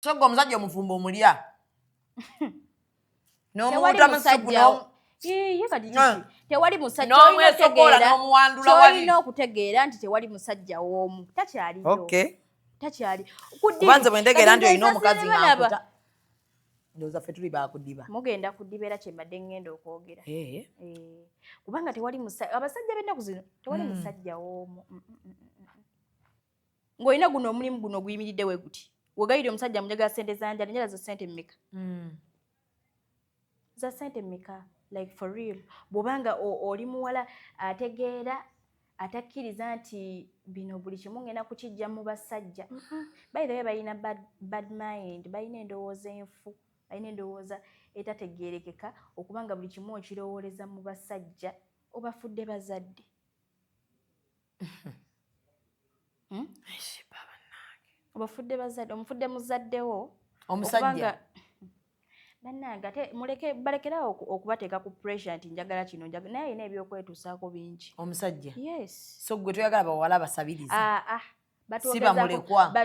so gwe omusajja omufumbo omulya nomuwuta musugu tewali musajjaolina okutegeera nti tewali musajja woomu takyaliyo takyali kubanze bwendegeera nti olina omukazi ngankuta ndoza fe tuli bakudiba mugenda kudiba era kyembadde ngenda okwogera eh. Eh. kubanga tewali abasajja bennaku zino tewali mm. musajja woomu mm, mm, ng'olina guno omulimu guno oguyimiridde we guti wegayire omusajja munjagala sente zanja nenyala za sente mmeka mm. za sente mmeka like for real bwobanga oli muwala ategeera atakkiriza nti bino buli kimu ngenda kukijja mu basajja mm-hmm. by the way balina bad mind balina endowooza enfu balina endowooza etategeerekeka okuba nga buli kimu okirowooleza mu basajja obafudde bazadde Hmm? obafudde bazadde omufudde muzaddewo omusajja bannange ate muleke balekerawo okubateeka ku pressure nti njagala kino njagala naye alina ebyokwetuusaako bingi omusajja yes so gwe toyagala bawala basabiriza ah, ah.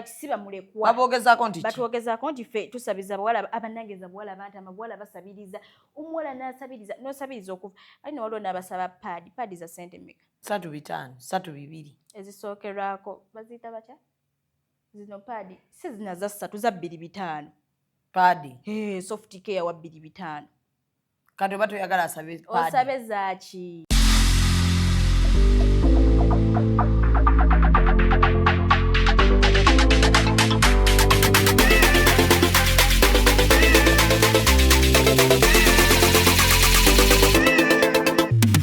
sibamulekwababogezaako nti batwogezaako nti fe tusabiza bawala abanangeza bawala banti amabawala basabiriza omuwala nasabiriza nosabiriza okuva ali newaliwo nabasaba paadi paadi za sente meka satu bitaano satu bibiri ezisookerwako baziyita batya zino paadi si zina za ssatu za bbiri bitaano paadi hey, soft care wa bbiri bitaano kati oba toyagala asabe osabe zaaki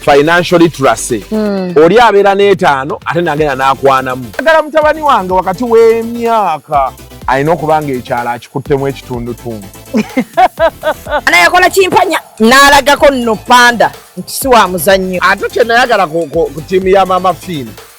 financial literacy mm. oli abeera n'etaano ate nagenda n'akwanamu agala mutabani wange wakati w'emyaka alina okuba nga ekyalo akikuttemu ekitundutundu ana yakola kimpanya n'alagako nno panda nti si wa muzannyo ate kyenayagala ku tiimu ya maama fiina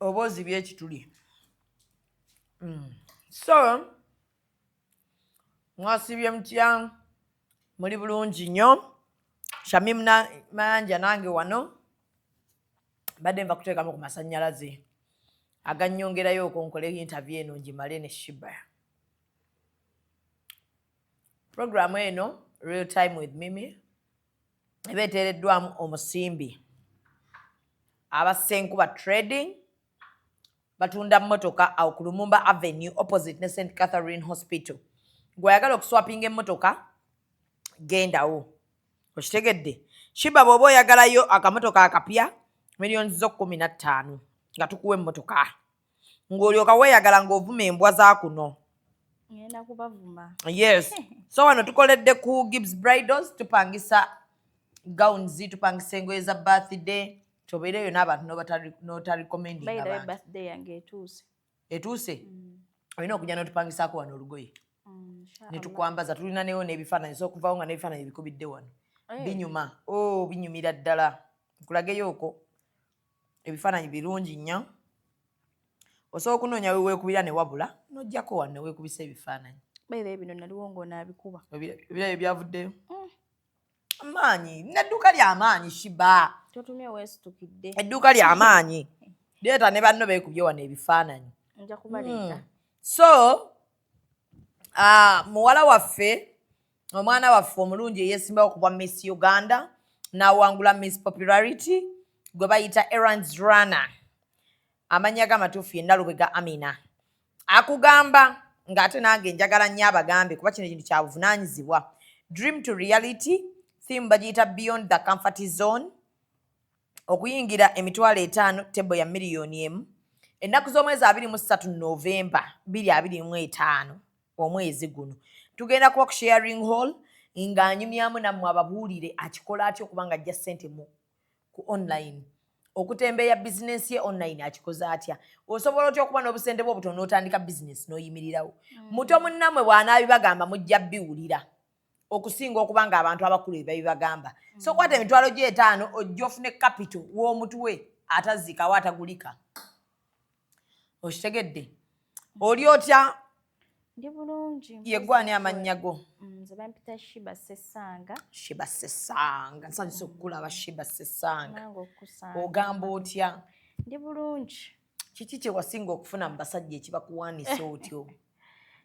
oba ozibye ekituli mm. so mwasibye mutya muli bulungi nnyo shamim mayanja nange wano mbadde nva kuteekamu ku masannyalaze aganyongerayo okonkole intervie eno ngimale ne shiba programu eno real time with mimi eba eteereddwamu omusimbi aba senkuba trading batunda mmotoka awo ku lumumba avenue opposite ne st catherine hospital gweayagala okuswapinga emmotoka gendawo okitegedde shiba bwoba oyagalayo akamotoka akapya millioni zo kumi na ttaano nga tukuwa emmotoka ng'olyoka weeyagala ng'ovuma embwa za kuno ngenda kubavuma yes so wano tukoledde ku gibbs bridals tupangisa gowns tupangisa engoye za birthday tobeera eyo n'abantu notaricomendingbirthday yange etuuse etuuse mm. olina okujja notupangisaako wano olugoye mm, netukwambaza tulina newo n'ebifaananyi so okuvawo nga n'ebifaananyi bikubidde wano eh. binyuma o oh, binyumira ddala nkulageyo oko ebifaananyi birungi nnyo osobola okunoonya weweekubira ne wabula n'ojjako wano ne weekubisa ebifaananyi bebe bino naliwo ng'onaabikuba ebirabyo byavuddeyo mm. amaanyi nedduuka lyamaanyi shiba totumye weesitukidde edduuka lyamaanyi deeta ne banno beekubye wano ebifaananyi nja kubaleeta mm. so uh, muwala waffe omwana waffe omulungi eyesimbawo okubwa miss uganda nawangula miss popularity gwe bayita erans runner amannya ge amatuufu ye nalubega amina akugamba ng'ate nange njagala nnyo abagambe kuba kino kintu kyabuvunaanyizibwa dream to reality theme bagiyita beyond the comfort zone okuyingira emitwalo etaano tebo ya miliyoni emu ennaku z'omwezi abiri mu ssatu novemba biri abiri mu etaano omwezi guno tugenda kuba ku sharing hall ng'anyumyamu nammwe ababuulire akikola atya okuba nga ajja ssente mu ku online okutembeeya bizinensi ye online akikoze atya osobola otya okuba n'obusente bwe obutono n'otandika bizinensi n'oyimirirawo mm. muto munnamwe bw'anaabibagamba mujja biwulira okusinga okuba nga abantu abakulu ebabibagamba mm. so kwata emitwalo gyetaano ojja ofune kapito w'omutwe atazikawo atagulika okitegedde mm. oli otya ndi bulungi yegwani amannya go mm, nze bampita shiba sesanga shiba sesanga nsanyusa okukulaba shiba sesanga ogamba otya ndi bulungi kiki kyewasinga okufuna mu basajja ekibakuwanisa otyo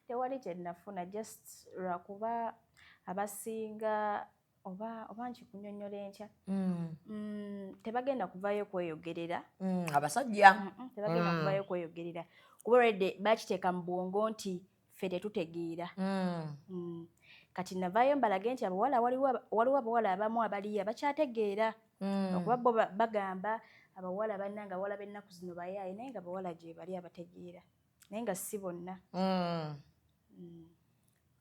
tewali kyenafuna just lwakuba abasinga oba oba nkikunyonyola enkya mm. mm, tebagenda kuvayo kweyogerera mm, abasajja tebagenda kuvayo kweyogerera kuba rede bakiteeka mu bwongo nti ffe tetutegeera mm. mm. kati navaayo mbalage nti abawala waliwo abawala abamu abaliya bakyategeera mm. okuba bo bagamba abawala banna nga bawala bennaku zino bayaaye naye nga bawala gyebali abategeera naye nga si bonna mm. mm.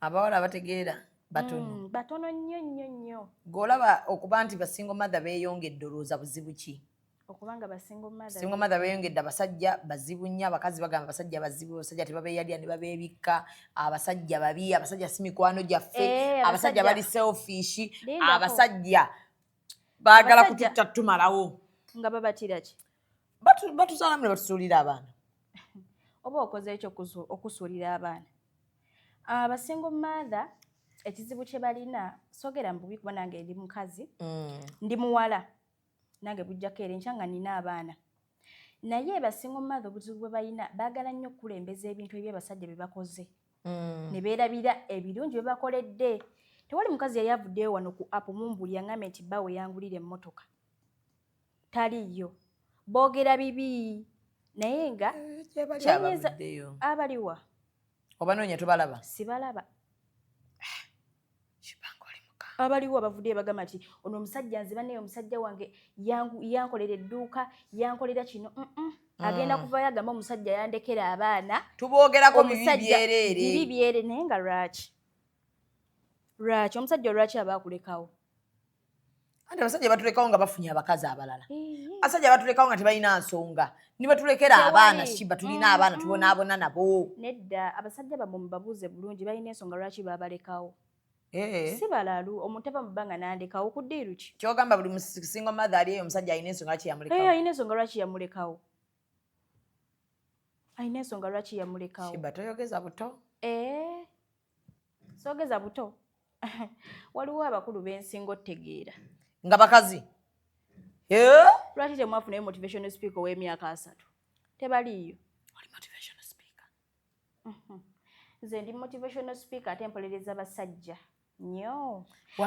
abawala abategeera batono mm, batono nnyo nnyo nnyo gweolaba okuba nti basingo mathe beyongedde olwooza buzibu ki okubanga basingo mother singo mother beyongedde abasajja bazibu nnyo abakazi bagamba abasajja bazibu abasajja tebabeyalya ne babebikka abasajja babi abasajja si mikwano gyaffe eh, abasajja bali selfish abasajja baagala kututta tumalawo nga babatira ki batuzaalamu ne batusuulira abaana oba okoze ekyo okusuulira abaana abasingo ah, mother ekizibu kye balina sogera mbubi kuba nange ndi mukazi mm. ndi muwala nange bujjako era enkya nga nina abaana naye basinga omumaatha obuzibu bwe balina baagala nnyo okukulembeza ebintu ebyo abasajja bye bakoze mm. ne beerabira ebirungi bye bakoledde tewali mukazi yali avuddeyo wano ku apu mumbuli yangambye nti bba we yangulira emmotoka taliiyo boogera bibi naye nga eh, abaliwa obanoonya tobalaba sibalaba abaliwo abavuddeyo bagamba nti ono omusajja nze banaye omusajja wange yankolera edduuka yankolera kino ah. agenda kuvayo agamba omusajja yandekera abaana tuboogerako bibi byerere naye nga lwaki lwaki omusajja olwaki aba akulekawo anti abasajja batulekawo nga bafunye abakazi abalala abasajja batulekawo nga tebalina nsonga nibatulekera abaana shiba tulina mm-hmm. abaana tubonaabona nabo nedda abasajja bamwe mubabuuze bulungi balina ensonga lwaki babalekawo eh. si balalu omuntu ava mu bbanga nandekawo kudiiru ki kyogamba buli musingo mathe ali eyo omusajja alina ensonga lwaki yamulekawo eh, alina ensonga lwaki yamulekawo alina ensonga lwaki yamulekawo shiba toyogeza buto eh. sogeza buto waliwo abakulu bensinga otegeera nga bakazi lwaki temwafuna yo motivational speaker ow'emyaka asatu tebaliiyo mhm. nze ndi motivational speaker ate mpolereza basajja nyo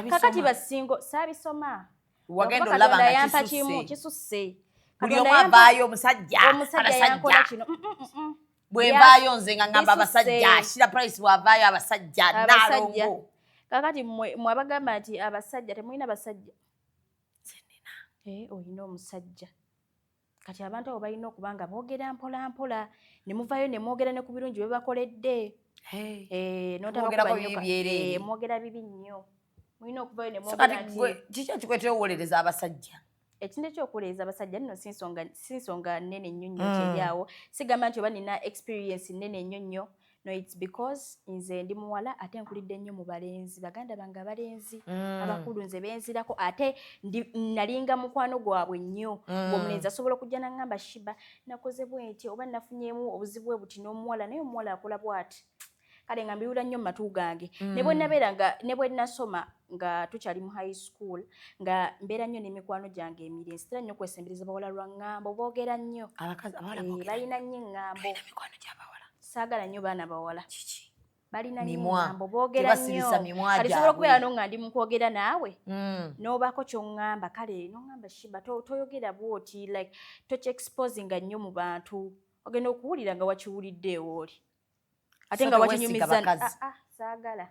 kakati basingo saabisoma wagenda olaba nga kisusse buli omu avaayo omusajja omusajja yankola kino mm, mm, mm, bwevaayo nze nga ngamba abasajja ashira price bwavaayo abasajja nalongo kakati mwabagamba nti abasajja temulina basajja zenina eh, olina omusajja kati abantu abo balina okuba nga boogera mpolampola ne muvayo ne mwogera ne ku birungi bye bakoledde eh, notabakubanyokamwogera eh, bibi nnyo mulina okuvayo ne mwogera nti kiki ekikuleetera okuwolereza abasajja ekintu ekyokuwuliriza abasajja nno si nsonga nnene nnyo nnyo mm. kyeri awo sigamba nti oba nina experience nnene nnyo nnyo no its because nze ndi muwala ate nkulidde nnyo mu balenzi baganda bange abalenzi mm. abakulu nze benzirako ate nalinga mukwano gwabwe nnyo mm. omulenzi asobola okujja nangamba shiba nakoze bwenti oba nafunyemu obuzibu bwe buti n'omuwala naye omuwala akola bwati kale nga mbiwula nnyo mu matu gange mm. ne bwe nabeera nga ne bwe nasoma nga tukyali mu high school nga mbeera nnyo n'emikwano gyange emiri nsitera nnyo kwesembereza bawala lwa ŋŋambo boogera nnyo eh, balina nnyo eŋŋambo saagala nnyo baana bawala kiki balina nyingambo bogera nyo kati sobola okubeera no nga ndi mukwogera naawe mm. nobaako kyoŋŋamba kale noŋŋamba shiba toyogera bwoti like tokyexposinga nnyo mu bantu ogenda okuwulira nga wakiwulidde ewooli ate nga wakinyumiza ah, ah, saagala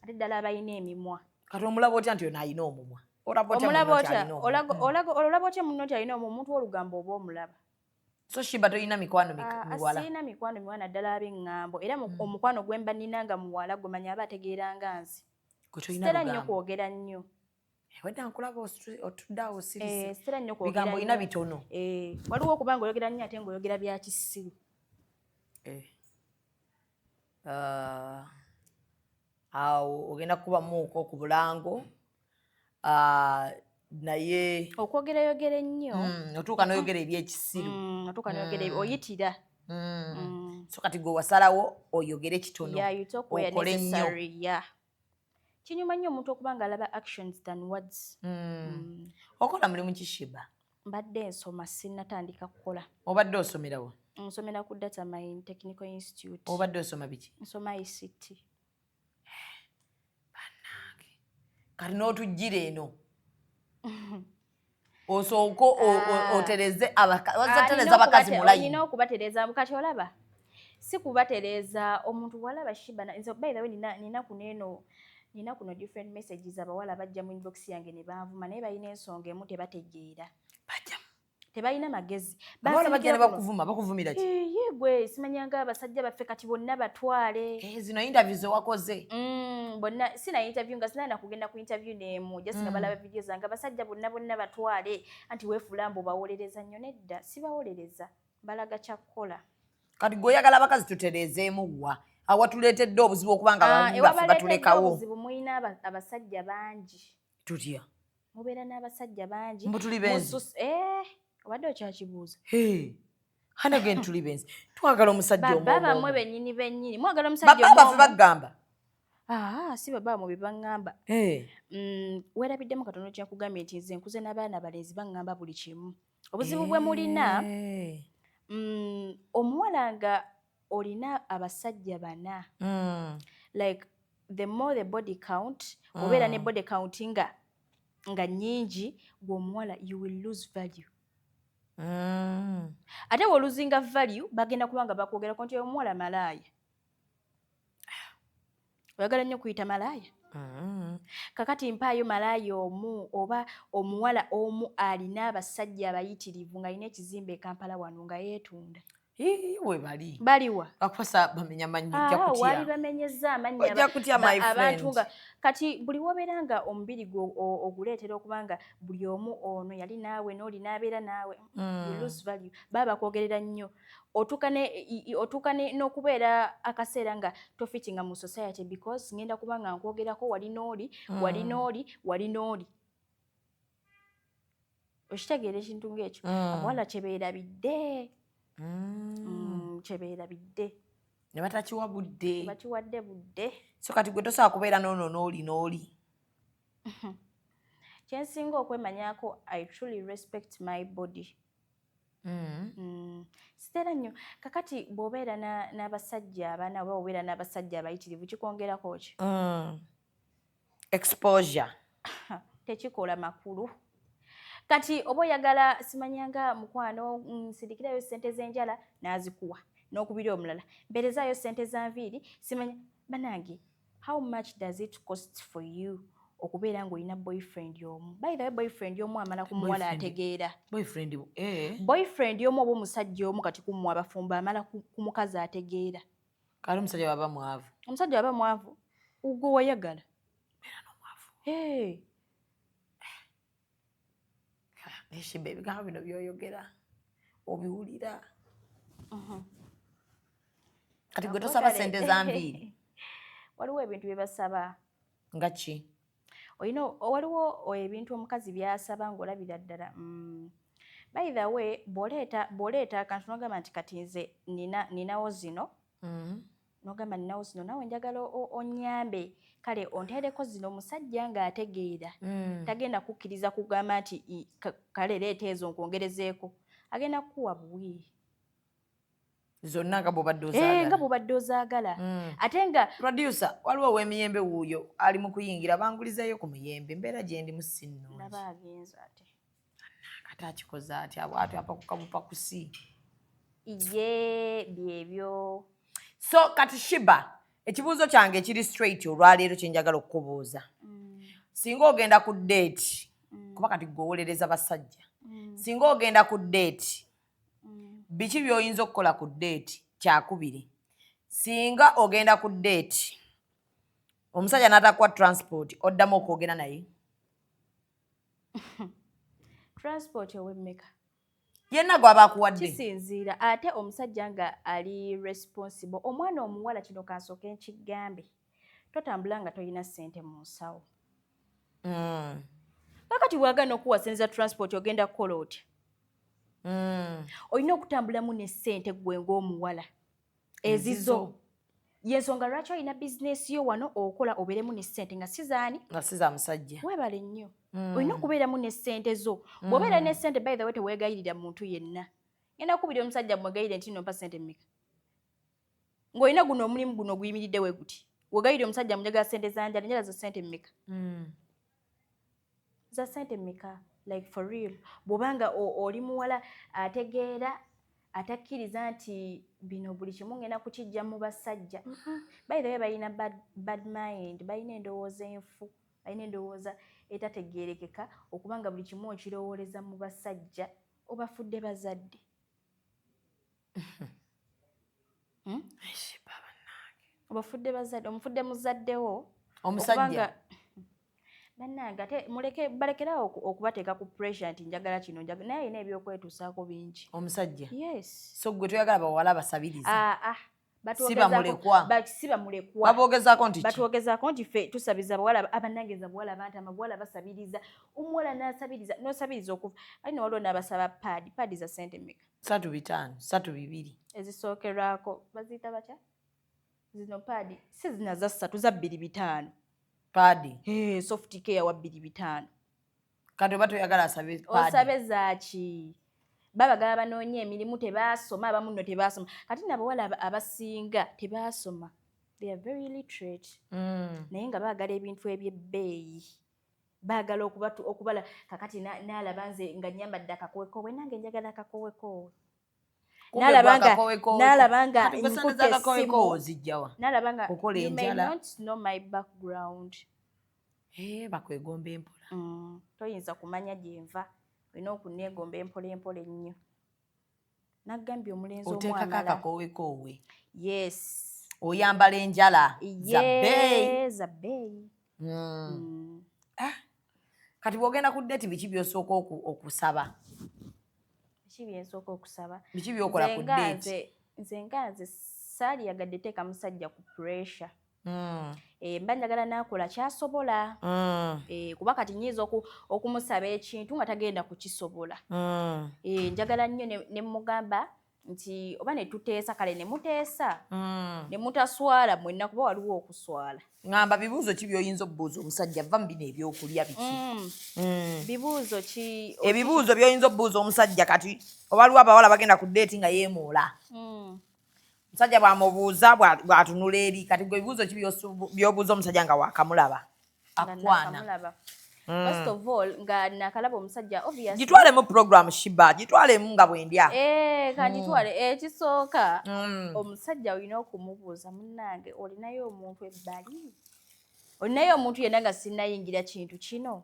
ate ddala abalina emimwa kati omulaba otya nti ono alina omumwa olaba otya muno nti alina omumwa omuntu olugambo oba omulaba so shiba tolina mikwano ah, miwala sirina mikwano miwala naddala ab'eŋŋambo era hmm. omukwano gwe mba nnina nga muwala gwe manya aba ategeera nga nze sitera nnyo kwogera nnyo Eh, wedda nkulaba otudde awo sirisibigambo eh, eh, olina bitono waliwo okuba nga oyogera nnyo ate nga oyogera bya kisiru ah, awo ogenda kukubamuuko ku bulango ah, naye okwogera yogera ennyo hmm, otuuka noyogera ebyekisiru hmm, otuuka noyogera hmm. oyitira so kati gwe wasalawo oyogere kitono okole nnyo kinyuma nnyo omuntu okuba nga alaba actions than words mm. Mm. okola mulimu kishiba mbadde nsoma sinatandika kukola obadde osomerawo nsomera ku data mine technical institute obadde osoma biki nsoma ict banange kati n'otujjira eno osooke ah. otereze abakazi abakazi mulayi olina okubatereza kati olaba si kubatereza omuntu walaba shiba nze by the way nina nina kuneno nina kuno different messages abawala bajja mu inbox yange ne banvuma naye balina ensonga emu tebategeera bajja tebalina magezi abawala bagenda bakuvuma bakuvumira ki ye gwe simanyanga abasajja baffe kati bonna batwale eh, zino interview zewakoze mm, bonna sina interview nga sinayina kugenda ku interview neemu just nga mm. balaba vidiyo zange abasajja bonna bonna batwale anti wefuula mbu bawolereza nnyo nedda sibawolereza balaga kyakukola kati gwe oyagala abakazi tutereezeemu wa awatuleetedde obuzibu okubanga ah, batulekawo obuzibu mulina abasajja bangi tutya mubeera n'abasajja bangi mbu tuli benzi eh, obadde okyakibuuza hanage ntuli benzi twagala omusajja baba bamwe benyini benyini mwagala omusajja baba bafe bagamba ah si baba mu bibangamba eh mm, werabiddemu katono kya kugambye nti nze nkuze n'abaana balenzi bangamba buli kimu obuzibu bwe mulina eh. mm, omuwala nga olina abasajja bana mm. like the more the body count mm. obeera ne body count nga nga nyingi gweomuwala you will lose value mm. ate woluzinga value bagenda kubanga bakwogerako nti omuwala malaaya oyagala nnyo kuyita malaaya mm-hmm. kakati mpaayo malaaya omu oba omuwala omu alina abasajja abayitirivu ng'alina ekizimba ekampala wano nga yeetunda webali baliwa bakusa bamenya manyo ah, ojja kutya wali bamenyeza amanya ojja kutya my friend abantu nga kati buli wobera nga omubiri gwo oguleetera okuba nga buli omu ono yali naawe n'oli n'abeera naawe mm. you lose value baba kwogerera nnyo otuuka ne otuuka ne n'okubeera akaseera nga tofitinga mu society because ngenda kuba nga nkwogerako wali n'oli mm. wali n'oli wali n'oli okitegeera ekintu ng'ekyo mm. abawala kyebeerabidde mm. mm, kyebeerabidde ne batakiwa budde bakiwadde budde so kati gwe tosobola kubeera noono n'oli n'oli kyensinga okwemanyako i truly respect my body Mm. Mm. sitera nnyo kakati bw'obeera n'abasajja abana oba obeera n'abasajja abayitirivu kikwongerako ki mm. exposure tekikola makulu kati oba oyagala simanyanga mukwano nsindikirayo sente z'enjala n'azikuwa n'okubira omulala mbeerezaayo sente za nviiri simanya banange How much does it cost for you okubeera ng'olina boyfriend omu by the way boyfriend omu amala ku muwala ategeera boyfriend eh. boyfriend omu oba omusajja omu kati kumwe abafumbo amala ku mukazi ategeera kale omusajja waba mwavu omusajja waba mwavu ugwo wayagala hey. neshiba ebigambo bino byoyogera obiwulira uh-huh. kati gwe tosaba sente zambiiri waliwo ebintu byebasaba nga ki olina waliwo ebintu omukazi byasaba ngaolabira ddala mm. by the way bwoleeta akantu nogamba nti kati nze ninawo zino mm-hmm. nogamba ninawo zino nawe njagala onyambe kale ontereko zino omusajja nga ategeera mm. tagenda kukkiriza kugamba nti kale leeta ezo nkwongerezeeko agenda kukuwa buwi zonna nga bubadde ozaagala eh, nga bubadde ozaagala mm. ate nga producer waliwo ow'emiyembe wuuyo ali mu kuyingira bangulizayo ku muyembe mbeera gyendi mu sinno laba agenza ate kati akikoze atya bwati apakuka bupakusi ye byebyo so kati shiba ekibuuzo kyange ekiri straight olwaleero kyenjagala okukubuuza mm. singa ogenda ku date mm. kuba kati gwewolereza basajja mm. singa ogenda ku date biki byoyinza okukola ku date kyakubiri singa ogenda ku date omusajja natakuwa transport oddamu okwogera naye transport owemmeka yenna gwaba akuwadde kisinziira ate omusajja nga ali responsible omwana omuwala kino kansooka enkigambe totambula nga tolina ssente mu nsawo mm. kakati bwagana okuwasinza transport ogenda kukola otya mm. olina okutambulamu ne ssente gwe ngaomuwala ezizo yensonga lwaki olina bizinesi yo wano okola obeeremu ne ssente nga sizaani nga siza musajja webale nnyo mm. olina okubeeramu ne ssente zo mm. bwobeera ne ssente by the way tewegayirira muntu yenna ngenda kubira omusajja mwegayire nti nompa ssente mmeka ng'olina guno omulimu guno oguyimiridde we guti wegayire omusajja mujagala ssente zanjala njala zo ssente mmeka mm. za sente meka like for real bwoba nga oli muwala ategeera atakkiriza nti bino buli kimu ngenda kukijja mu basajja mm-hmm. bayithawe balina bad mind balina endowooza enfu balina endowooza etategeerekeka okuba nga buli kimu okirowooleza mu basajja obafudde bazadde Hmm? obafudde bazadde omufudde muzaddewo omusajja bannange ate muleke balekerawo okubateeka ku pressure nti njagala kino njagala naye alina ebyokwetuusaako bingi omusajja yes so gwe toyagala bawala basabiriza ah, ah. sibamulekwababogezaako nti batwogezaako nti fe tusabiza bawala abanangeza bawala banti amabawala basabiriza omuwala nasabiriza nosabiriza okuva ali newaliwo nabasaba paadi paadi za sente meka satu bitaano satu bibiri ezisookerwako baziyita batya zino paadi si zina za ssatu za bbiri bitaano paadi hey, soft care wa bbiri bitaano kati oba toyagala asabe paadi osabe zaaki babagala banoonye emirimu tebaasoma abamu nno tebaasoma kati nabawala abasinga tebaasoma they are very literate mm. naye nga baagala ebintu ebyebbeeyi baagala okubatu okubala kakati naalaba nze nga nyambadde akakowekowe nange njagala akakowekowe nalaba nga nalaba nga nkutte essimu nalaba nga you may not know my background eh, bakwegomba empola mm, toyinza kumanya gyenva olina okuneegomba empola empola ennyo nagambye omulenzi otekako akakowekoowe yes oyambala enjala zabeeyi hmm. hmm. ah. kati bwogenda ku deti biki byosooka okusaba biki byensooka okusaba biki byokola ku deti nze nga nze saali yagadde teeka musajja ku pressure Mm. Eh, mba njagala nakola kyasobola mm. eh, kuba kati nyinza okumusaba ekintu nga tagenda kukisobola mm. eh, njagala nnyo nemugamba nti oba netuteesa kale nemuteesa nemutaswala mwenna kuba waliwo okuswala ngamba bibuuzo ki byoyinza obubuuza omusajja va mu bino ebyokulya biki bibuuzo ki ebibuuzo byoyinza obubuuza omusajja kati oba liwo abawala bagenda ku deeti nga yemuula musajja bwamubuuza bwatunula eri kati gwe ebibuuzo ki byobuuza omusajja nga wakamulaba akwana Mm. First of all nga nakalaba omusajja obviously gitwale mu program shiba gitwale mu nga bwendya eh ka mm. gitwale mm. eh kisoka mm. omusajja olina okumubuuza munange olinayo omuntu ebbali olinayo omuntu yena nga sinayingira kintu kino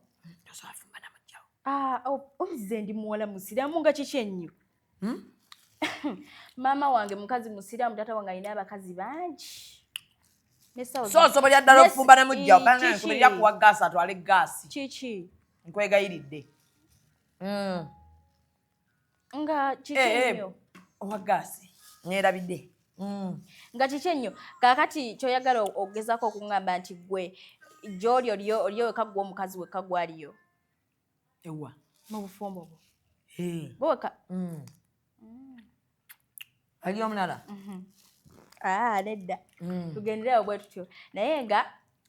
ah, oh, omuze ndi muwala musiramu nga kiki ennyo hmm? maama wange mukazi musiraamu taata wange alina abakazi bangi sosobolera ddala okufumba ne mujja obankubirira kuwa gaasi atwale gaasi kiki nkwegayiridde hmm. nga kiki eh, eh, enyo owa gaasi nerabidde hmm. nga kiki ennyo kakati kyoyagala okugezako okungamba nti gwe gyoli oliyo wekagwa omukazi wekagwaliyo ewa mu bufumbo bwo bwoka mm. mm. ali omulala mhm. ah, nedda mm. tugenderewo bwe tutyo naye nga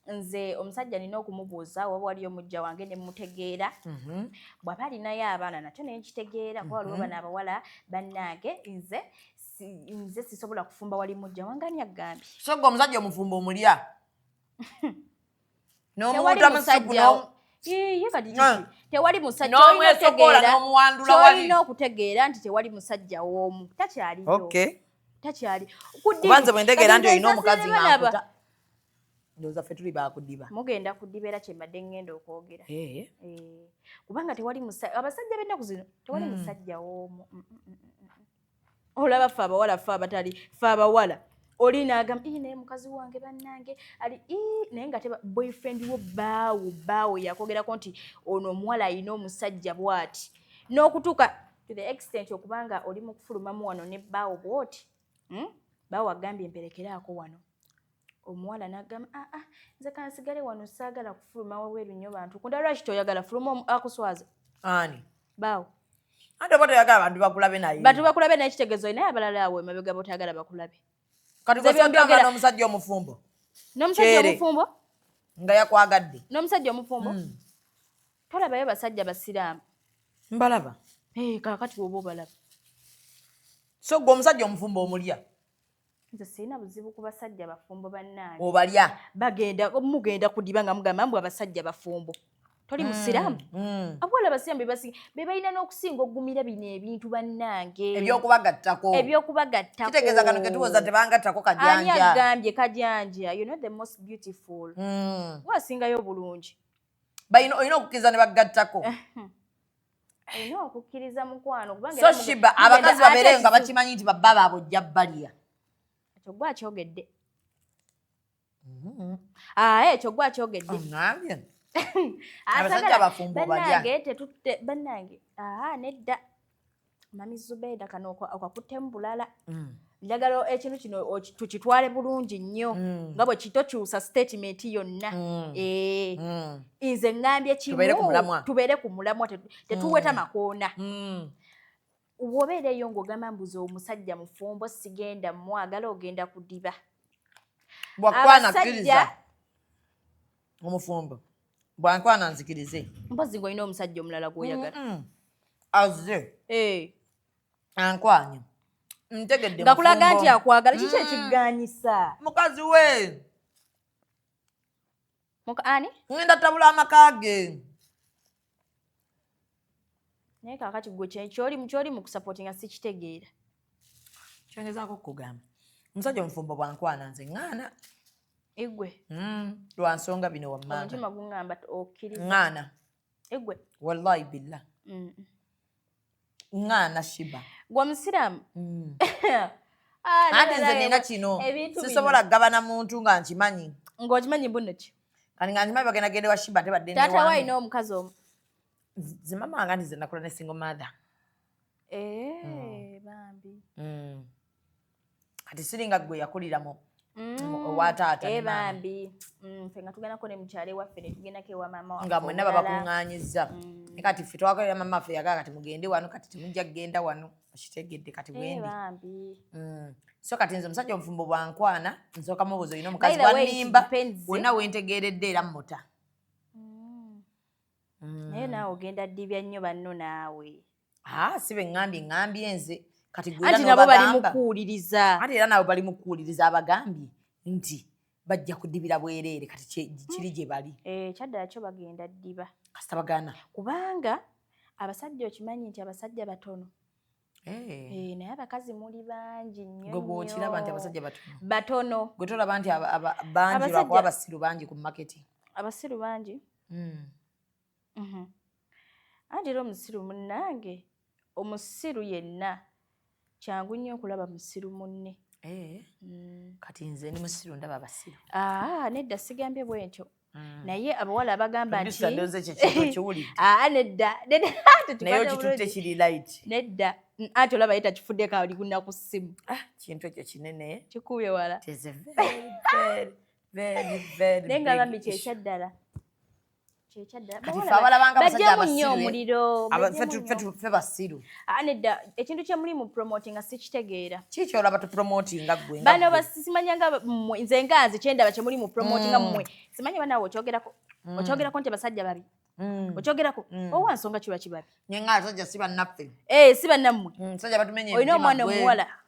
nze omusajja nina okumubuuza waba waliyo mujja wange nemutegeera mhm. bwaba alinayo abaana nakyo naye nkitegeera kuba waliwo mhm. bana abawala bannange nze nze sisobola kufumba wali mujja wange ani agambye so gwe omusajja omufumba omulya n'omuntu amusugu tewali musajjaolina okutegeera nti tewali musajja w'omu takyaliyo takyali kubanze bwendegeera nti olina omukazi nakuta ndoza fe tuli bakudiba mugenda kudiba era kyembadde ngenda okwogera eh. Eh. kubanga tewali abasajja bennaku zino tewali mm. musajja w'omu mm, mm, olaba fe abawala fe abatali fe abawala oli nagamba ii naye mukazi wange bannange ali ii naye nga teba boyfriend wo baawo baawo yakwogerako nti ono omuwala alina omusajja bwati n'okutuuka to the extent okuba nga oli mu kufulumamu wano ne baawo bwoti hmm? baawo agambye mperekeraako wano omuwala nagamba aa ah, ah, nze kansigale wano saagala kufuluma wabweru nnyo bantu kunda lwaki toyagala fuluma akuswaza ani baawo ate oba toyagala bantu bakulabe naye bantu bakulabe naye kitegezo naye abalala awo emabega botayagala bakulabe kati kosagambana omusajja omufumbo n'omusajja omufumbo nga yakwagadde n'omusajja omufumbo hmm. tolabayo basajja basiraamu mbalaba eh, kakati woba obalaba so gwe omusajja omufumbo omulya nze sirina buzibu ku basajja bafumbo bannaani obalya bagenda mugenda kudiba nga mugamba mbu abasajja bafumbo toli musiraamu mm, mm. abawala abasiraamu bebasiga be balina n'okusinga okugumira bino ebintu bannange ebyokubagattako ebyokubagattako kitegeeza kano ketuwoza tebangattako kajanjaani agambye kajanja you know the most beautiful mm. wasingayo obulungi balina olina okukkiriza ne bagattako eh, hmm. olina okukkiriza mukwano so shiba abakazi babeere nga bakimanyi nti babba baabwe ojja baliya ekyo gwe akyogedde mm-hmm. ah, ekyo gwe akyogedde banange nedda mami zubeeda kano okakutemu bulala mm. njagala ekintu kino tukitwale bulungi nnyo mm. nga bwe kitokyusa statement yonna mm. Eh, mm. nze ŋŋambye kimu tubeere ku mulamwa tetuweta makoona wobeera eyo ng'ogamba mbuza omusajja mufumbo sigenda mwagala ogenda kudiba abasajja omufumbo bwankwana nzikirize mpozi ng'olina omusajja omulala gwoyagala azze eh. ankwanye ntegedde nga kulaga nti akwagala kiki mm. ekiganyisa mukazi we ani ngenda tabula amaka ge naye kakati gwe kyolimu kyoli mu kusapoti nga sikitegeera kyongezaako okugamba omusajja omufumbo bwankwana nze ŋaana igwe mm, lwa nsonga bino wammanga omutima gungamba okkiriza ŋaana egwe wallahi billah mm. ngana shiba gwa musiramu mm. ah, ate nze nina kino sisobola kugabana muntu nga nkimanyi ngaokimanyi mbunoki kani nga nkimanyi bagenda gende wa shiba tebadde tata waina omukazi omu zimama wanga nti zenakula ne single mother eh, mm. bambi mm. kati siringa gwe yakulira mu mm. owa taata eh, bambi mm, fe nga tugendako ne mukyalo ewaffe ne tugendako ewa maama waffe nga mwenna babakuŋŋaanyizza mm. kati ffe twakolera maama waffe yagala kati mugende wano kati temujja kugenda wano okitegedde kati eh, bwendi so kati nze omusajja omufumbo bwankwana nsooka mubuuza olina omukazi wanimba wonna wentegeeredde era muta naye naawe ogenda ddibya nnyo banno naawe ah, si beŋambye ŋambye nze kati anti nabo bali mukuwuliriza anti era nabo bali mukuwuliriza abagambye nti bajja kudibira bwereere kati kiri gye bali eh, kyaddala kyo bagenda ddiba kasita bagana kubanga abasajja okimanyi nti abasajja batono Eh. Eh, naye abakazi muli bangi nyogwokiraba nti abasajja batono gwe tolaba nti bangi lwakuba abasiru bangi ku maketi abasiru bangi hmm. Mhm. anti era omusiru munnange omusiru yenna kyangu nnyo okulaba musiru munne eh. mm. kati nze ni musiru ndaba abasiru ah, nedda sigambye bwentyo mm. naye abawala abagamba ntineddadda ati olaba ye takifuddeko ali kuna ku ssimu ah, kintu ekyo kinene kikubye wala naye nga bambi kyekyaddala fe basiru ah, nedda ekintu kyemuli mu promotinga sikitegeera kikyolaba tupromotinga gwe bano basimanyanga mwe nze nga nze kyendaba kyemuli mu promotinga mm. mwe simanya banawe okyogerako mm. okyogerako nti basajja babi mm. okyogerako owa nsonga kiba kibabi nyenga asajja si bannaffe eh, si bannammwe olina omwana omuwala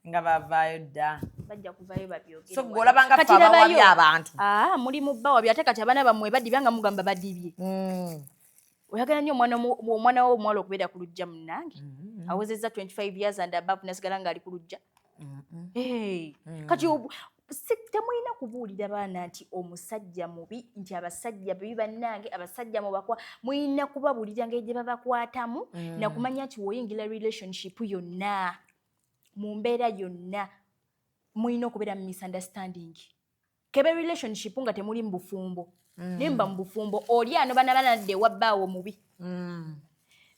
nga bavaayo dda bajja kuvayo babyogeolabangaabawabi abantu ah, muli mubba wabi ate kati abaana bamwe badibya nga mugamba badibye hmm. oyagala nyo omwana wo omuwala okubeera ku lujja munange hmm. awezeza 25 years and above nasigala ngaali ku lujja hmm. eh, kati temulina kubuulira baana nti omusajja mubi nti abasajja bibi bannange abasajja mubakwa mulina kubabuulira ngeri gye babakwatamu mm. nakumanya nti woyingira relationship yonna mu mbeera yonna mulina okubeera mu misunderstanding kebe relationship nga temuli mu bufumbo mm. naye muba mu bufumbo oli anoba naba nadda ewa bbaawe mubi mm.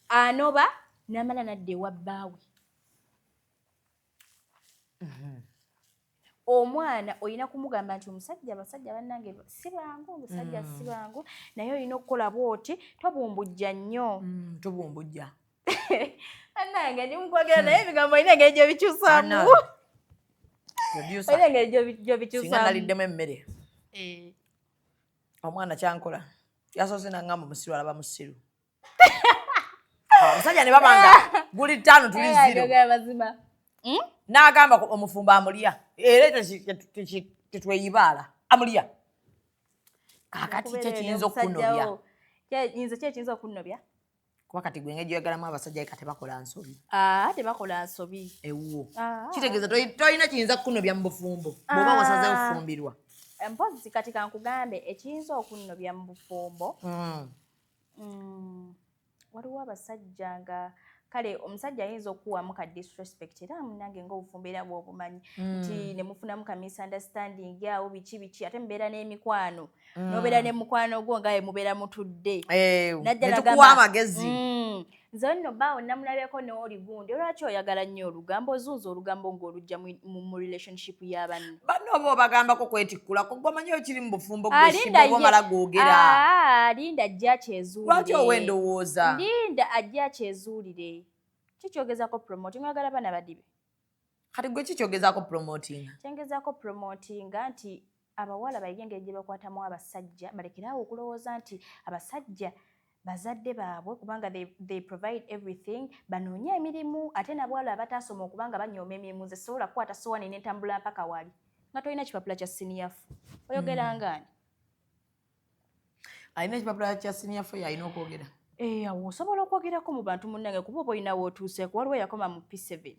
anoba namala nadda ewa bbaawe mm-hmm. omwana olina kumugamba nti omusajja abasajja bannange si bangu omusajja mm. si bangu naye olina okukola bwoti tobumbujja nnyo mm, tobumbujja bannange ndi mukwogera naye ebigambo olina engeri gyobikyusamu olina engeri gyobikyusamualiddemu emmere eh. omwana kyankola yasoose nangamba musiru alaba musiru omusajja ne babanga guli ttaano tuli ziro hmm? n'agamba omufumbo amulya era tetweyibaala amulya kakati kyekiyinza okunobya nze kyekiyinza okunobya kuba kati gwe ngeri gyoyagalamu abasajja ka tebakola nsobi ah, tebakola nsobi ewuwo ah. kitegeeza tolina kiyinza kukunobya mu bufumbo bwoba ah. wasaze ofumbirwa mpozi kati kankugambe ekiyinza okunobya mu bufumbo hmm. Mm, waliwo abasajja nga kale omusajja ayinza okukuwamu ka disrespect era munange ngaobufumbo era bwobumanyi mm. nti mm. nemufunamu ka misunderstanding awo biki biki ate mubeera n'emikwano mm. nobeera ne mukwano gwo ngaye mubeera mutudde eh, naddala amagezi mm. nze onno baawo namulabeko nooli gundi olwaki oyagala nnyo olugambo ozunza olugambo ng'olujja mu relationship ya banne banno oba obagambako kwetikkulako gwamanyi okiri mu bufumbo gwesibomala gwogera ah, linda ajja akyezuulire lwaki owa endowooza linda ajja akyezuulire kikyogezako promote ngagala bana badibe kati gwe ki kyogezaako promotinga kyengezaako promotinga nti abawala bayige engeri gye bakwatamu abasajja balekeraawo okulowooza nti abasajja bazadde baabwe kubanga they, they provide everything banoonye emirimu ate nabwala abataasoma okubanga banyooma emirimu ze sobola kukwata sowaani nentambula mpaka wali nga tolina kipapula kya siniyafu oyogerangani hmm. mm. alina ekipapula kya siniya fo yalina okwogera eh, awo osobola okwogerako mu bantu munnange kuba oba olina wootuuseeko waliwo yakoma mu p7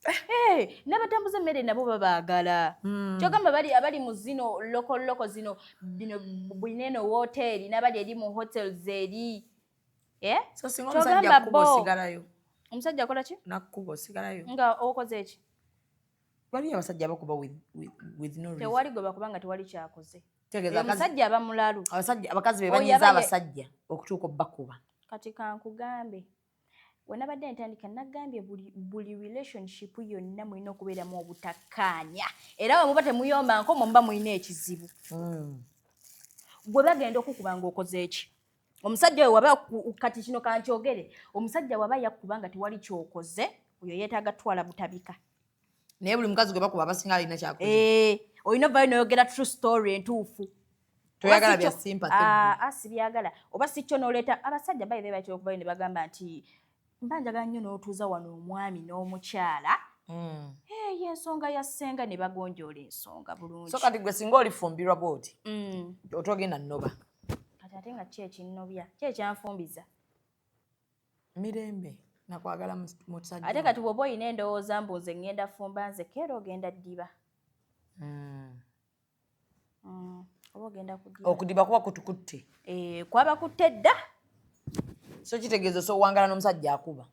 eh, nabatambuza emmere nabo babaagala hmm. kyogamba abali mu zino lokoloko zino bino bulina eno wooteeri nabali eri mu hotels eri eh? kyogamba bo omusajja akola ki nakkuba osigalayo nga okoze eki waliyo abasajja abakuba tewali gwe bakuba nga tewali kyakoze omusajja aba mulalu abakazi bebanyiza abasajja okutuuka obakuba kati kankugambe wenabadde ntandika nagambye buli relationship yonna mulina okubeeramu obutakkaanya era wemuba temuyombanko mwemuba mulina ekizibu hmm. gwe bagenda okukuba nga okoze eki omusajja oyo waba kati kino kankyogere omusajja waba yakuba nga tewali kyokoze oyo yeetaaga twala butabika naye buli mukazi gwe bakuba abasinga alina kyakoze eh, olina ovayo noyogera true story entuufu toyagala bya sympathy ah, ah, sibyagala oba si kyo noleeta abasajja bayi bebatera okubayo ne bagamba nti mba njagala nnyo n'otuuza wano omwami n'omukyala hmm. eyo ensonga ya ssenga ne bagonjoola ensonga bulungi so kati gwe singa olifumbirwa bwoti hmm. otogenda nnoba kati ate nga ki ekinnobya ki ekyanfumbiza mirembe nakwagala musajja ate kati bwoba olina endowooza mbu nze ŋŋenda fumba nze keera ogenda ddiba hmm. mm, oba ogenda kudiba okudiba kuba kutukutte eh, kwaba kutte dda so kitegeeza osowangala n'omusajja akuba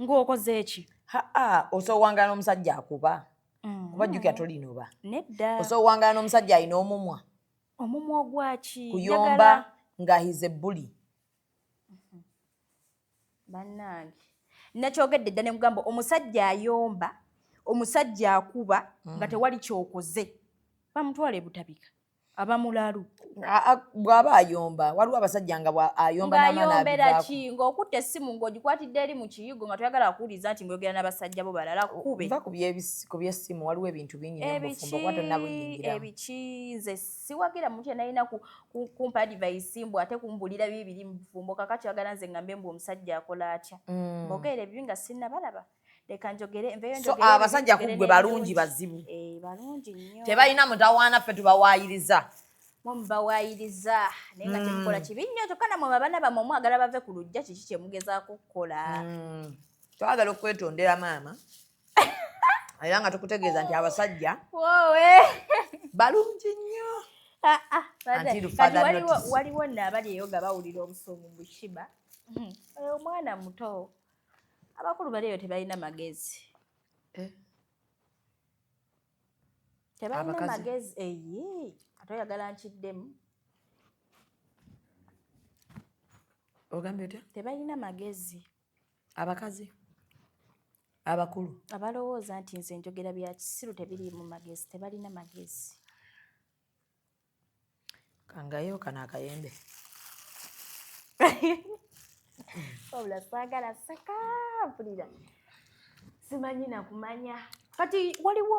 ng'okoze eki haa osowangala n'omusajja akuba mm. kuba jjukira tolinoba nedda osowangala n'omusajja alina omumwa omumwa ogwaki kuyomba nga hize buli bannange nakyogedde dda nemugamba omusajja ayomba omusajja akuba mm. nga tewali kyokoze bamutwala ebutabika abamulalu bwaba ayomba waliwo abasajja nga ayombayombera ki ngaokutta essimu ngaogikwatidde eri mu kiyigo nga toyagala kuwuliriza nti ngoyogera n'abasajja bo balala kube ku byessimu waliwo ebintu bingi ebiki nze siwagira muntu yenalina kumpa adivayisi mbu ate kumbulira bibiri mubufumbo kakati wagala nze ngambe mbu omusajja akola atya mm. mbogeera ebibi nga sinabalaba leka njogere nveyoabasajja ah, kugwe balungi bazibu eh, balungi nyo tebalina mutawaana ffe tubawaayiriza mubawaayiriza naye nga mm. temukola kibi nnyo kyokka namwe abaana bamwe omwagala bave ku lujja kiki kyemugezaako okukola mm. twagala okwetondera maama era nga tukutegeeza nti abasajja balungi nnyo ah, ah, waliwo naabali eyo nga bawulira obusungu bushiba hmm. oyo omwana muto abakulu bali eyo tebalina magezi eh? tebalina magezi eyi ate oyagala nkiddemu ogambye otya tebalina magezi abakazi abakulu abalowooza nti nze njogera bya kisiru tebiri mu magezi tebalina magezi kangayo kano akayembe wabula saagala seka mpulira simanyi nakumanya kati waliwo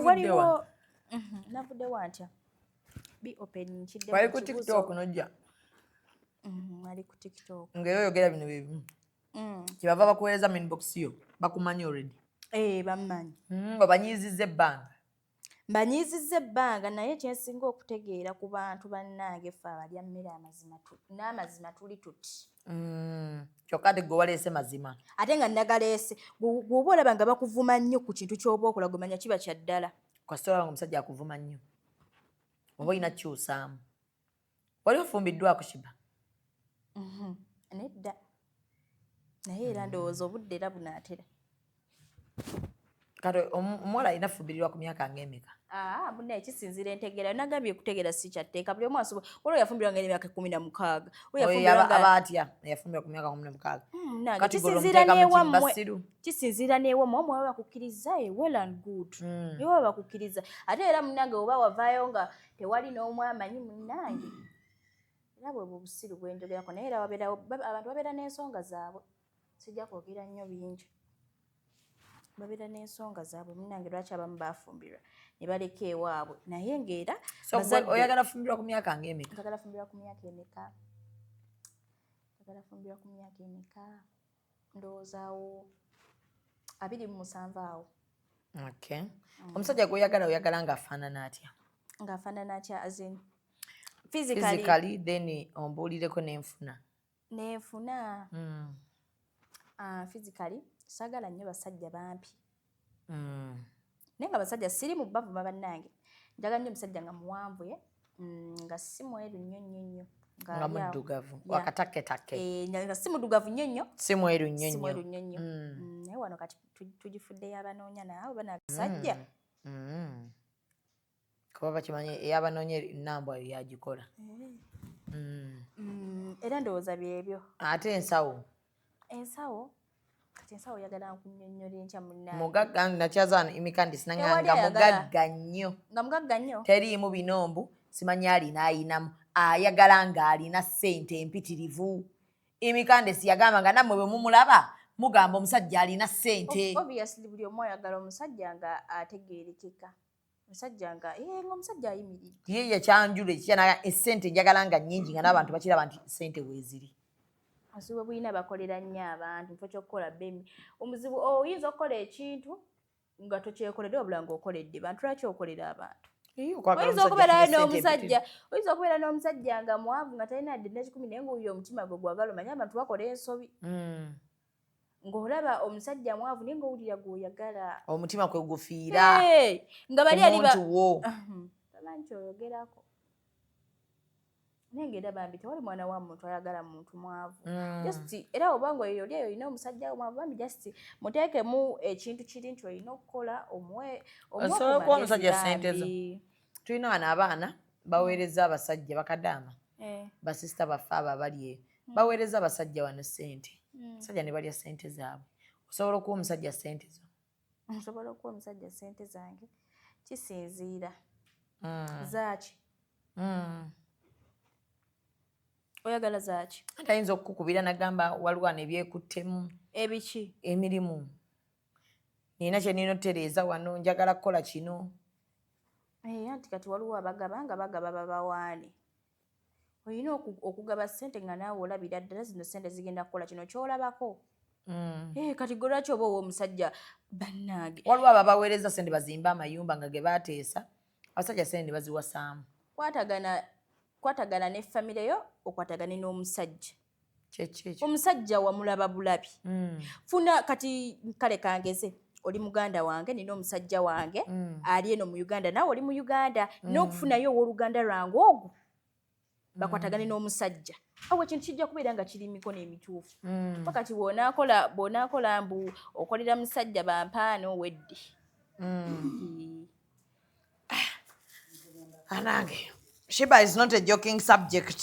waliwo mhm, navuddewo antya bi open nkidde wali ku tiktok nojja mm, ali ku tiktok ngaera oyogera bino byebimu mm. kyebava bakuweereza minbox yo bakumanyi already eh, bamumanyi mm, babanyiiziza ebbanga mbanyiizizza ebbanga naye kyensinga okutegeera ku bantu bannange fe abalya mmere n'amazima tuli tuti mm, kyokka ate gwewaleese mazima ate nga nagaleese gwoba olaba nga bakuvuma nnyo ku kintu kyoba okola gwemanya kiba kya ddala kasita olaba nga omusajja akuvuma nnyo oba olina kyusaamu wali ofumbiddwako shiba mhm. nedda naye era mm. ndowooza obudde era bunaatera kati omuwala alina fubirirwa ku myaka ngaemeka ah, muna ekisinzira entegera nagambye kutegera si kyatteeka buli omu asobola olwo yafumbirwa nga emyaka ekumi na mukaaga aba atya yafumbirwa ku myaka kumi na mukaaga hmm, kisinzira newammwe kisinziira newo mwe mwaba bakukkiriza e well and good mm. newa bakukkiriza ate era munange oba wavaayo nga tewali n'omu amanyi munange era bwe bubusiru bwenjogerako naye era wabeerawo abantu babeera n'ensonga zaabwe sijja kwogera nnyo bingi babeera n'ensonga zaabwe munange lwaki abamu bafumbirwa ne baleka ewaabwe naye ngaera oyagala fumbirwa ku myaka ngaemeka njagala fumbirwa ku myaka emeka njagala fumbirwa ku myaka emeka ndowooza awo abiri mu musanvu awo okay mm. omusajja gwoyagala oyagala ngaafaanana atya ngaafaanana atya azin physically then ombuulireko nenfuna nenfuna mm. uh, physically sagala nnyo basajja bampi mm. naye nga basajja siri mu bavuma bannange njagala nnyo omusajja nga muwanvu ye mm, nga si mweru nnyo nnyo nnyo nga muddugavu wakataketakke eh, nga si muddugavu nnyo nnyo si mweru nnyo nnyo mm. naye wano kati tugifuddeyo abanoonya naawe bana basajja kuba bakimanyi eyabanoonya enambwa yagikola eh. mm. mm, era ndowooza byebyo ate ensawo ensawo kati ensawo oyagala nkunyonyola enkya munaa mugagga nakyazano imikandisi nanganga mugagga nnyo nga mugagga nnyo teriimu binombu simanyi alina ayinamu ayagala nga alina sente empitirivu imikandisi yagamba nga nammwe bwe mumulaba mugamba omusajja alina sente obviously buli omu ayagala omusajja nga ategeerekeka musajja nga eh, nga omusajja ayimiridde ye yakyanjula ekikya naga esente njagala nga nyingi nga n'abantu bakiraba nti sente weeziri obuzibu bulina bakolera nnyo abantu nfa kyokukola bemi omuzibu oyinza okukola ekintu nga tokyekoledde wabula nga okoledde bantu lwaki okolera abantu oyinza okubeerayo n'omusajja oyinza okubeera n'omusajja nga mwavu nga talina dde nekikumi naye ngaoyo omutima gwe gwagala omanye abantu bakola ensobi hmm. ng'olaba omusajja mwavu naye ng'owulira gw'oyagala omutima kwe gufiira nga bali alimuntu wo nti oyogerako naye ng'era bambi tewali mwana wa muntu ayagala muntu mwavu mm. just era obanga oyo oli eyo olina omusajja wo mwavu bambi just muteekemu ekintu kiri nti olina okukola omuwe omuwe okuba omusajja sente zo tulina wano abaana baweereza abasajja bakadaama eh. basisita baffe abo abali eyo hmm. baweereza abasajja wano sente hmm. abasajja ne balya sente zaabwe osobola okuwa omusajja sente zo nsobola okuwa omusajja sente zange kisinziira hmm. zaaki oyagala zaaki ate ayinza okukukubira nagamba waliwo ano ebyekuttemu ebiki emirimu nina kyenina otereeza wano njagala kukola kino Eh, anti kati waliwo abagaba nga bagaba babawaane olina okugaba sente nga naawe olabira ddala zino sente zigenda kukola kino kyolabako mm. eh, kati gwe lwaki oba owoomusajja bannange waliwo ababaweereza sente bazimba amayumba nga ge bateesa abasajja sente nebaziwasaamu kwatagana ne famireyo okwatagane n'omusajja omusajja wamulaba bulabi mm. funa kati kale kangeze oli muganda wange nina omusajja wange mm. ali eno mu uganda nawe oli mu uganda mm. nokufunayo owoluganda lwange ogwo mm. bakwatagane n'omusajja awo ekintu kijja kubeera nga kiri mikono emituufu mm. pakati bwonakola bwonakola mbu okolera musajja bampaano wedde mm. anange shiba is not a joking subject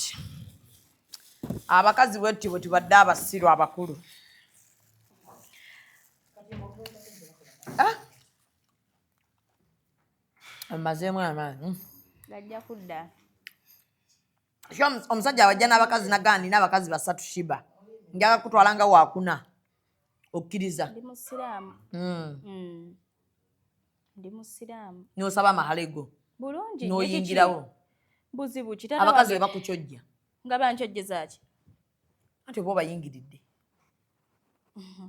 abakazi bwetti bwe tubadde abasiru abakulu amazeemu amaanyi gajja kudda omusajja wajja n'abakazi nagaa nina abakazi basatu shiba njaga kutwala nga wakuna okkiriza ndi musiraamu hmm. Hmm. nosaba amahale go bulungi noyingirawo buzibu abakazi webakukyojja nga bankyojjezaki anti oba obayingiridde mhm.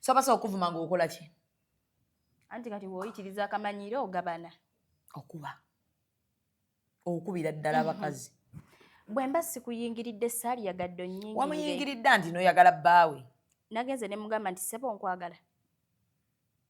so basobola okuvuma nga okola ki anti kati woyitiriza akamanyiro ogabana okuba okubira ddala mhm. abakazi bwe mba sikuyingiridde saali yagadde onyingirire wamuyingiridde nti noyagala bbaawe nagenze ne mugamba nti sebo nkwagala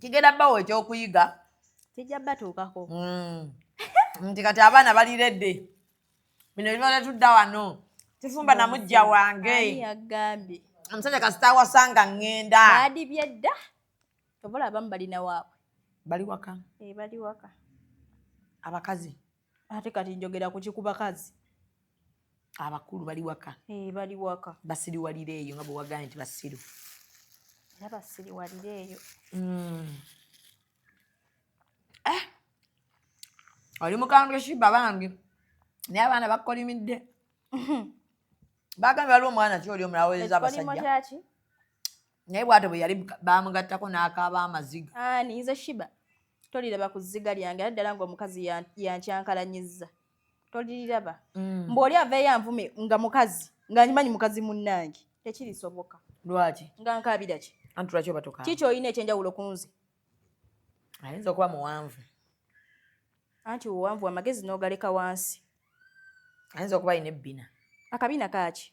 kigenda bawo ekyokuyiga kijja batuukako mm. nti kati abaana bali redde bino bibale tudda wano tufumba na mujja wange yagambye omusajja kasita awasanga ŋŋenda baadibye dda obola abamu balina waabwe bali waka eh, bali waka abakazi ate kati njogera kuki ku bakazi abakulu bali waka eh, bali waka basiriwalira eyo nga bwewagambye nti basiru era basiriwalira eyo hmm. eh! oli mukambwe shiba bangi naye abaana bakolimidde bagambye waliwo omwana ki oli omulawoleza abasajja naye bwato bwe yali bamugattako n'akaaba amaziga ani nze shiba toliraba ku zziga lyange era ddala ng'omukazi yankyankalanyizza toliriraba mm. mbu oli aveeyo anvume nga mukazi nga nyimanyi mukazi munnange tekirisoboka lwaki nga nkaabira ki anti lwaki obatuka kiki olina ekyenjawulo ku nze ayinza okuba muwanvu anti owanvu amagezi n'ogaleka wansi ayinza okuba alina ebbina akabina kaaki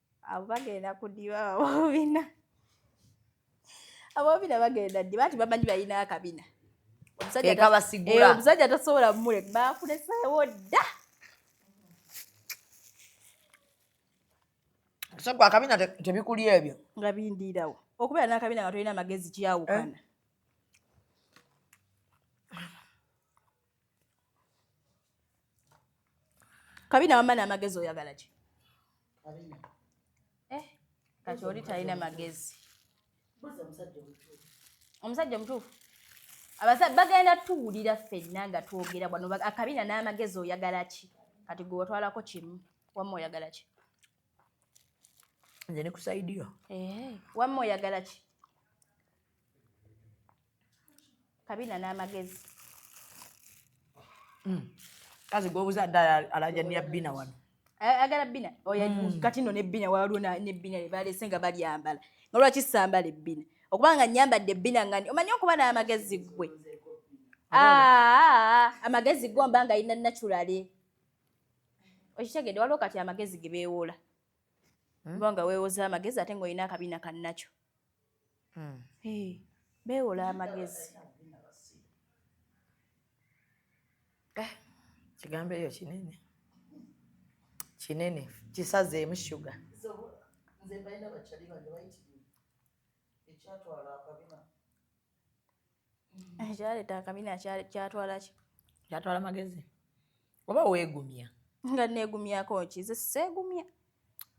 abo bagenda kudiba babobina abobina bagenda ddi bati bamanyi balina akabina omusajja tasobola mule bakuleseewo dda sogwa akabina tebikuli ebyo nga bindiirawo okubeera n'akabina nga tolina amagezi kyawukana eh? kabina wamma n'amagezi oyagala ki eh, kati oli talina magezi omusajja omutuufu abasajja bagenda tuwulira ffenna nga twogera bwano akabina n'amagezi oyagala ki kati gwe watwalako kimu wamma oyagala ki nze ne kusaidiyo eh, wamma oyagala ki kabina n'amagezi hmm. kazi gwobuza dda alaja niya bina wano agala bina oyo hmm. kati no nebina waliwo nebina lebalese nga balyambala nga lwaki sambala ebbina okuba nga nyambadde ebbina nga omanyi okuba n'amagezi gwe amagezi gwe mba nga yina naturale okitegede waliwo kati amagezi ge beewola hmm? oba nga weewoza amagezi ate nga olina akabina kannakyo hmm. beewola amagezi eh, kigambo eyo kinene kinene kisazeemu shuga nze mbalina bakyali bange bayitirivu ekyatwala akabina ekyaleeta akabina kyatwala ki kyatwala magezi oba weegumya nga neegumyako ki ze seegumya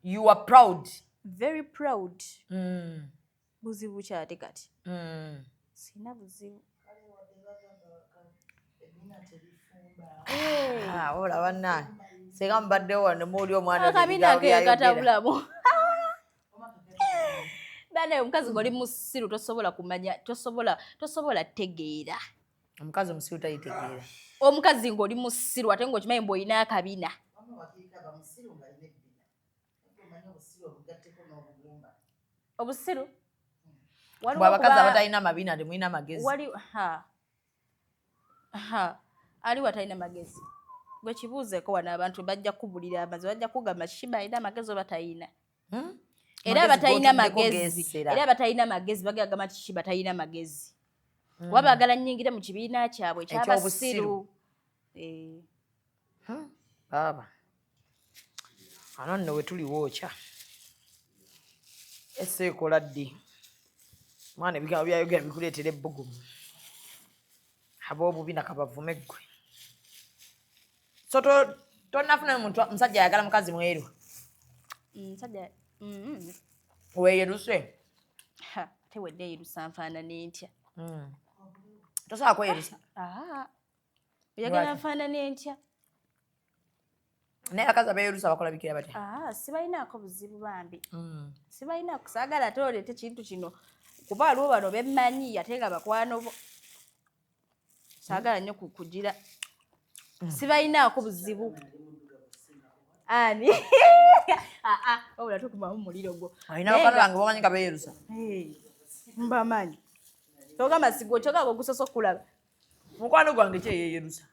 you are proud very proud mm. buzibu kyate kati mm. sina buzibu ah, ola banange singa mubaddewo wano muuli omwana akabiina keekatabulamu bana omukazi ngoli musiru tosobola kumanya tosobola tosobola tegeera omukazi omusiru tayitegeera omukazi ngoli musiru ate ngaokimanyi mbu olina akabina obusiru abakazi abatalina mabina temulina magezi Ha, aliwa talina magezi. Gwe kibuuzeeko wano abantu bajja kubulira amazi, bajja kugamba kiki balina amagezi oba talina. Hmm? Era abatalina magezi, era abatalina magezi bagala gamba kiki batalina magezi. Hmm. Wabagala nyingire mu kibiina kyabwe ekyabasiru. Eh. Hmm, baaba ano nno we tuli wookya ese ekola ddi mwana ebigambo byayogera bikuleetera ebbugumu ab'obubi nakabavume ggwe so tonafuna muntu musajja ayagala mukazi mweru mm, mm-hmm. weyeruse tewedde yerusa nfaanana entya mm. tosobola kweyerusa ah, ah. oyagala nfaanana entya naye abakazi abeerusa bakola bikira batya ah, sibalinaako buzibu bambi mm. sibalinaako kusaagala ate oleeta ekintu kino kuba waliwo bano bemmanyi ate nga bakwano bo saagala nnyo kukugira mm. sibalinaako buzibu ani ah, ah, wabula tukumamu muliro gwo alina bakano bange bamanyi nga beerusa mbamanyi togamba sigwo kyogaga ogusoosa okulaba mukwano gwange kyeyeyerusa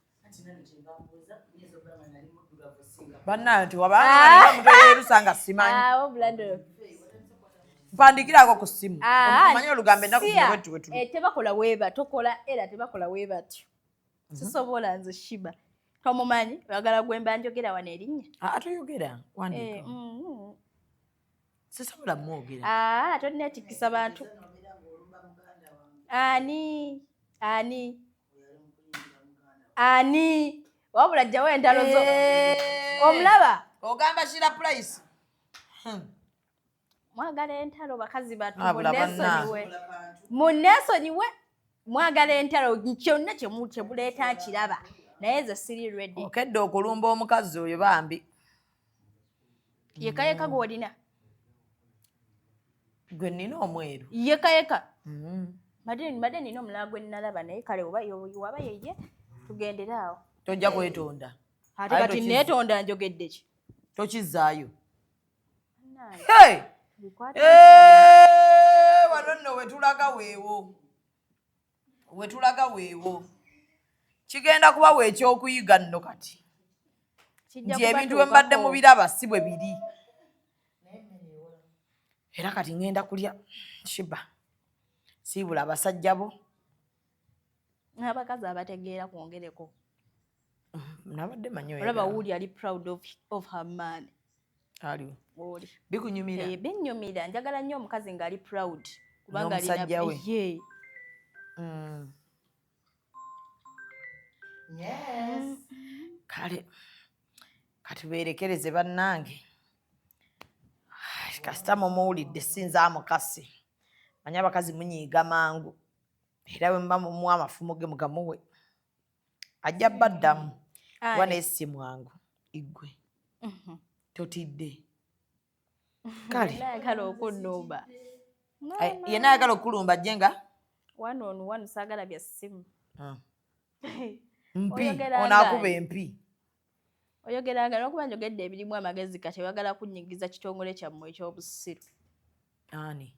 bananti wabayerusa nga simanyimpandikirako ah, ah, ku simu ah, manyi olugambo enakuwetuwetutebakola eh, weba tokola era tebakola webatyo mhm. sisobola nze shiba tomumanyi oyagala gwemba njogera wano erinnya toyogera wandiika eh, mm, mm. sisobola mwogera aa ah, tonnetikisa bantu ani ani ani wabula jjawo entalo zo eh. omulaba ogamba shira price hmm. mwagala entalo bakazi batu munesonyiwe munesonyiwe mwagala entalo kyonna kyemuleeta nkiraba naye ze siri redi okedde okulumba omukazi oyo bambi yeka yeka gwolina gwe nina omweru yeka yeka mm-hmm. mbadde nina omulala gwe nnalaba naye kale oba waba yeye tugendere awo tojja kwetonda ate kati netonda njogedde ki tokizaayo wano nno wetulaga weewo wetulaga weewo kigenda kuba wekyokuyiga nno kati nti ebintu bwe mbadde mu biraba si bwe biri era kati ŋŋenda kulya shiba siibula abasajja bo n'abakazi abategeera kwongereko nabadde manyi olaba wuuli ali proud of, of her man aliwo oli bikunyumira eh binyumira njagala nnyo omukazi nga ali proud kubanga ali na ye mm yes kale kati berekereze bannange kasita mumuwulidde sinza amukasi manya abakazi munyiiga mangu era bwe muba mumuwa amafumu ge mugamuwe ajja baddamu kuba naye si mwangu igwe mhm. totidde kale ayagala okunumba yena ayagala okulumba ajje nga one on one saagala bya ssimu ah. mpi onaakuba empi oyogera nga lwakuba njogedde ebirimu amagezi kati oyagala kunyigiza kitongole kyammwe ekyobusiru ani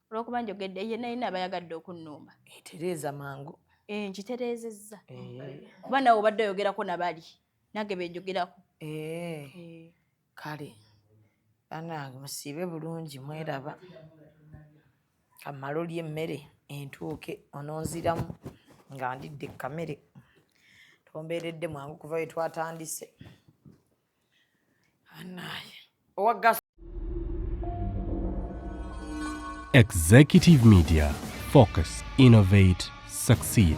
olwokuba njogedde ye nayina abayagadde okunnumba etereeza mangu eh, nkitereezezza eh. kuba nawe obadde oyogerako nabali nange benjogerako eh. Kale banange musiibe bulungi mweraba kamale olye emmere entuuke ononziramu nga ndidde kkamere tombeeredde mwangu kuva we twatandise anaye owa gas Executive Media Focus Innovate Succeed